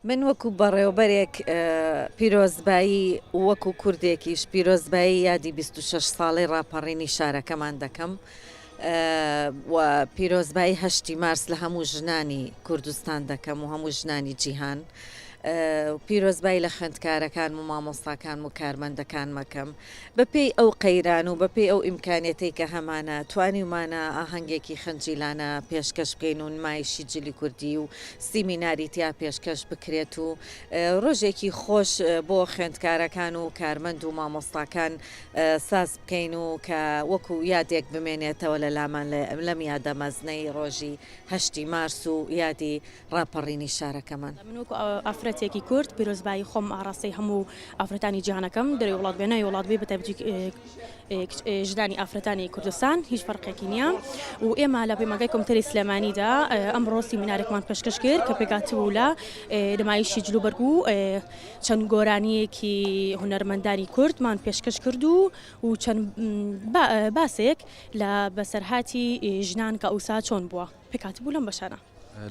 من وەکو بەڕێوبەرێک پیرۆزبایی و وەکو کوردێکیش پیرۆزبایی یادی 26 ساڵەی ڕاپەڕینی شارەکەمان دەکەم و پیرۆزبایی هەشتی مارس لە هەموو ژنانی کوردستان دەکەم و هەموو ژنانی جیهان پیرۆزبایی لە خوێندکارەکان و مامۆستاکان و کارمەندەکان مەکەم بە پێی ئەو قەیران و بە پێی ئەو ئیمکانیەتەی کە هەمانە، توانیومانە ئاهەنگێکی خەنجیلانە پێشکەش بکەین و نمایشی جلی کوردی و سیمیناری تیا پێشکەش بکرێت و ڕۆژێکی خۆش بۆ خوێندکارەکان و کارمەند و مامۆستاکان ساز بکەین و کە وەکو یادێک بمێنێتەوە لە لامان لەم یادە مەزنەی ڕۆژی هەشتی مارس و یادی ڕاپەڕینی شارەکەمان. من وەکو ئافرەتێکی کورد پیرۆزبایی خۆم ئاڕاستەی هەموو ئافرەتانی جیهان ئەکەم دەرەوەی وڵات بێ ناوی وڵات بێ بە تایبەتی ژنانی ئافرەتانی کوردستان هیچ فەرقێکی نییە و ئێمە لە پەیمانگای کۆمتەری سلێمانیدا ئەمڕۆ سیمینارێکمان پێشکەش کرد کە پێکات بوو لە نمایشی جلوبەرگ و چەند گۆرانیەکی هونەرمەندانی کوردمان پێشکەش کرد و و چەند باسێک لە بەسەرهاتی ژنان کە ئەوسا چۆن بووە پێکات بوو لەم بەشانە.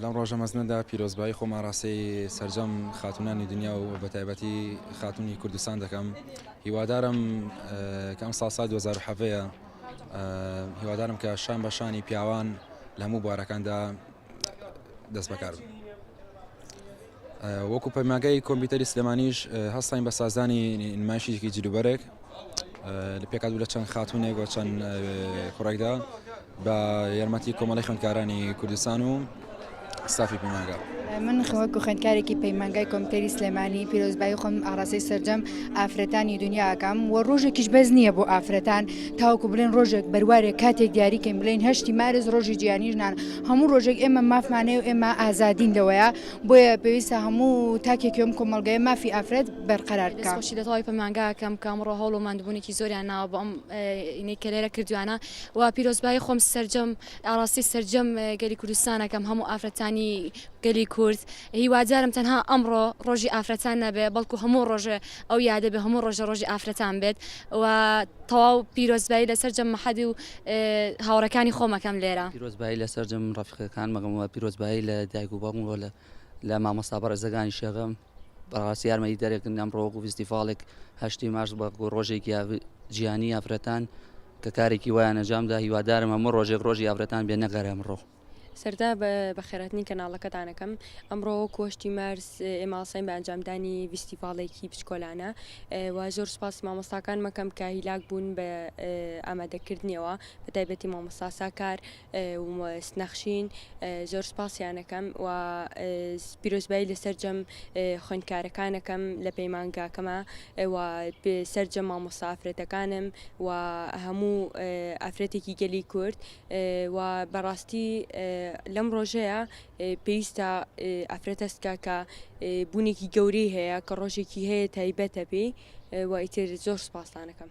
لەم ڕۆژە مەزنەدا پیرۆزبایی خۆم ئاراستەی سەرجەم خاتوونانی دنیا و بە تایبەتی خاتوونی کوردستان دەکەم هیوادارم کە ئەم ساڵ سای 2007 هیوادارم کە شان بە شانی پیاوان لە هەموو بوارەکاندا دەست بەکار بن. وەکو پەیماگای کۆمپیوتەری سلێمانیش هەستاین بە سازدانی نمایشیکی جلوبەرێک لە پێکات بوو لە چەند خاتونێک و چەند کوڕێکدا بە یارمەتی کۆمەڵی خوێندکارانی کوردستان و ستافی پەیماگا من خەوەک و خوێندکارێکی پەیمانگای کۆمپیوتەری سلێمانی پیرۆزبایی خۆم ئاراسی سرجەم ئافرەتانی دنیاکەم و ڕۆژێکیش بەس نییە بۆ ئافرەتان تاوکو بلێن ڕۆژێک بەروارێک کاتێک دیاریکەین بلین هەشتی مارز ڕۆژی جیانیژنان هەموو ڕۆژێک ئێمە مافمانەیە و ئێمە ئازادین لەوەیە بۆیە پێویستە هەموو تاکێکی ئەم کۆمەڵگەیە مافی ئافرەت بەرقەرار بکات. دەستخۆشی لە تەواوی پەیمانگاکەم کە ئەمڕۆ هەوڵ و ماندووبوونێکی زۆریان ناوە بۆ ئەم ئینەی کە لێرە کردوویانە و پیرۆزبایی خۆم سەرجەم ئاڕاستەی سەرجەم گەلی کوردستان ئەکەم هەموو ئافرەتانی گەلی کورد هیوادارم تەنها ئەمڕۆ ڕۆژی ئافرەتان نەبێ بەڵکو هەموو ڕۆژێ ئەو یادە بێ هەموو ڕۆژێ ڕۆژی ئافرەتان بێت و تەواو پیرۆزبایی لە سەرجەم مەحەدی و هاوڕێکانی خۆم ئەکەم لێرە. پیرۆزبایی لە سەرجەم ڕەفیقەکانم ئەکەم و پیرۆزبایی لە دایک و باوکم و لە مامۆستا بەڕێزەکانیش ئەکەم، بەڕاستی یارمەتیدەرێکن ئەمڕۆ وەکو فیستیڤاڵێک هەشتی مارس وەکو ڕۆژێکی جیهانی ئافرەتان کە کارێکی وایان ئەنجامدا، هیوادارم هەموو ڕۆژێک ڕۆژی ئافرەتان بێ نەگەر ئەمڕۆ. سەرتا بە بەخێرهاتنی کەناڵەکەتانەکەم ئەمڕۆ وەکو هەشتی مارس ئێمە هەڵساین بە ئەنجامدانی ڤیستیڤاڵێکی بچکۆلانە و زۆر سوپاسی مامۆستاکان مەکەم کە هیلاک بوون بە ئامادەکردنیەوە بە تایبەتی مامۆستا ساکار نەخشین زۆر سوپاسیانەکەم و پیرۆزبایی لە سەرجەم خوێندکارەکانەکەم لە پەیمانگاکەمە و سەرجەم مامۆستا ئافرەتەکانم و هەموو ئافرەتێکی گەلی کورد و بەڕاستی لەم ڕۆژەیا پێویستە ئافرەت هەست بکات کە بوونێکی گەورەی هەیە کە ڕۆژێکی هەیە تایبەتە پێی و ئیتر زۆر سوپاستان دەکەم.